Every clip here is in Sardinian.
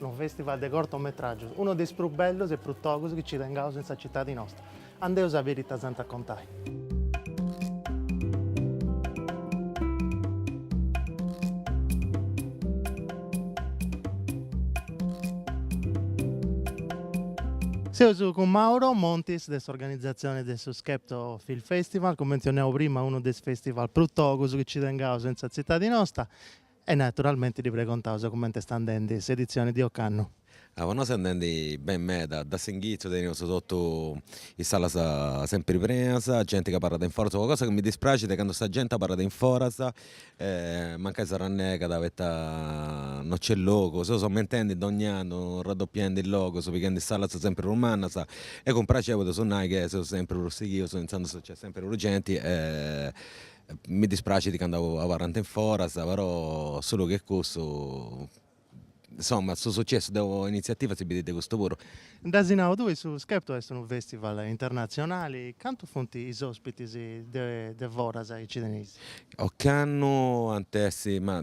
Unu festival de cortometràgios, unu de is prus bellus e prus togus chi nci tengaus in sa citadi nostra. Andeus a biri ita s'ant a contai. Seus cun Mauro Montis de s'organizatzioni de su Skepto Film Festival, cumenti mentzionau prima unu de is festival prus togus chi nci tengaus in sa tzitadi nosta, E naturalmenti ddi pregontaus cumenti est andendi s'editzioni de ocannu. Po nosu est andendi beni meda, de s'inghitzu teneus totu is salas sempiri prenas, genti ca abarrat in foras, una cosa chi mi dispraxit candu sa genti abarrat in foras e mancai s'arrannegat poita no nc'est logu, seus aumentendi dogni annu, raddopiendi logus, pighendi is salas sempiri prus mannas e cun praxeri podeus nai chi seus sempiri prus sighius intzandus nc'est sempiri prus genti e Mi dispraxit candu abarrant in foras, però solu che cussu, insomma, su sucessu de una initziativa si bidit de custu puru. Nd'as nau tui, su Skepto est unu fèstival internatzionali, cantu funt is òspitis de foras chi nci teneis? Ocannu ant essi, ma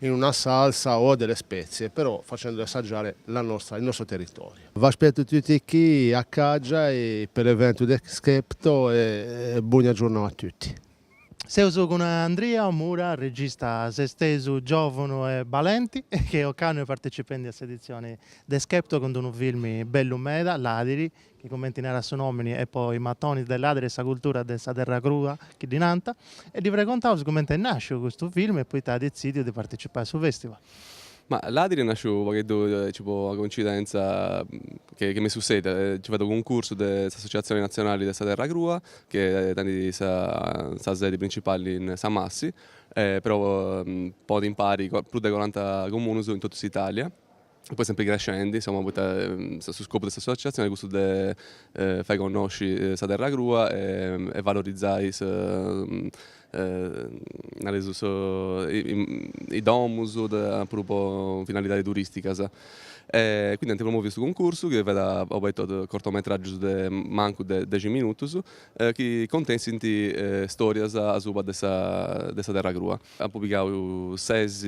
in una salsa o a delle spezie, però facendo assaggiare la nostra, il nostro territorio. V'aspetto tutti chi a Caggiai e pe l'evento de Skepto e bona giurnà a tutti. Seus cun Andria Mura, regista sestesu, giòvunu e balenti, chi ocannu est partecipendi a s'editzioni de Skepto cun d'unu filmi bellu meda, Ladiri, chi cumenti narat su nòmini est po is matonis de ladiri e sa cultura de sa terra crua, chi ddi nant, e ddi pregontaus cumenti est nàsciu custu film e poita at detzìdiu de participai a su festival. Ma Ladiri est nàsciu u' pagheddu aici po una coincidentza chi m'est sussèdia, nci fiat unu cuncursu de s'Associatzioni Natzionali de sa Terra Crua, chi tenit sa sedi principali in Samassi, però ponit impari prus de coranta comunus in totu s'Italia, Poi sempri crescendi, insomma, poita su scopu de s'associatzioni est cussu de fai connosci sa terra crua e valorizai nareus is domus puru po finalidadi turistigas. E quindi ant promoviu su cuncursu chi fiat obertu a cortometraggius de mancu de dexi minutus chi contessint storias asuba de sa terra crua. Eus pigau ses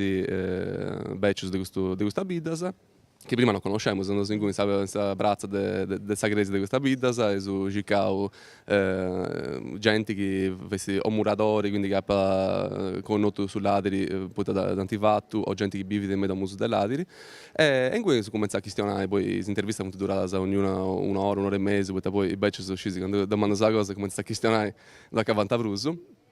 bècius de custu de custas biddas, chi prima no connoscemus, seus andaus inguni in sa pratza de de sa crèsia de custas biddas, eus circau genti chi fessit o muradori, quindi chi apa connotu su ladiri poita dd'ant fatu, o genti chi bivit me i domus de ladiri, e inguni eus cumentzau a chistionai, poi is intervistas funt duradas ognuna una ora, una ora e mesu, poita poi is bècius, scisi, candu domandas sa cosa e cumentzant a chistionai, no dd'acabant prus.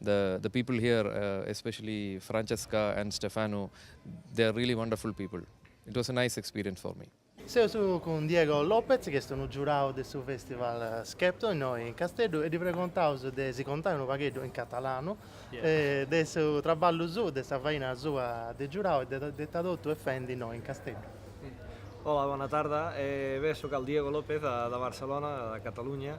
The the people here especially Francesca and Stefano they are really wonderful people. It was a nice experience for me. Seus cun Diego Lopez chi est unu giurau de su festival Skepto innoi in Casteddu e ddi pregontaus de si contai unu pagheddu in catalanu de su traballu suu, de sa faina sua de giurau e de de ita totu est fendi innoi in Casteddu. Hola bona tarda, bé soc el Diego Lopez de Barcelona, de Catalunya.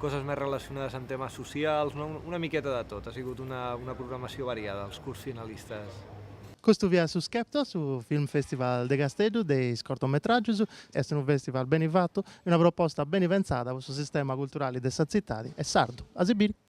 coses més relacionades amb temes socials, no, una miqueta de tot, ha sigut una una programació variada, els curts finalistes. Custu fiat su Skepto, su Film Festival de Casteddu de is cortometràgius. Est unu festival beni fatu e una proposta beni pentzada po su sistema culturali de sa tzitadi e sardu. A si biri!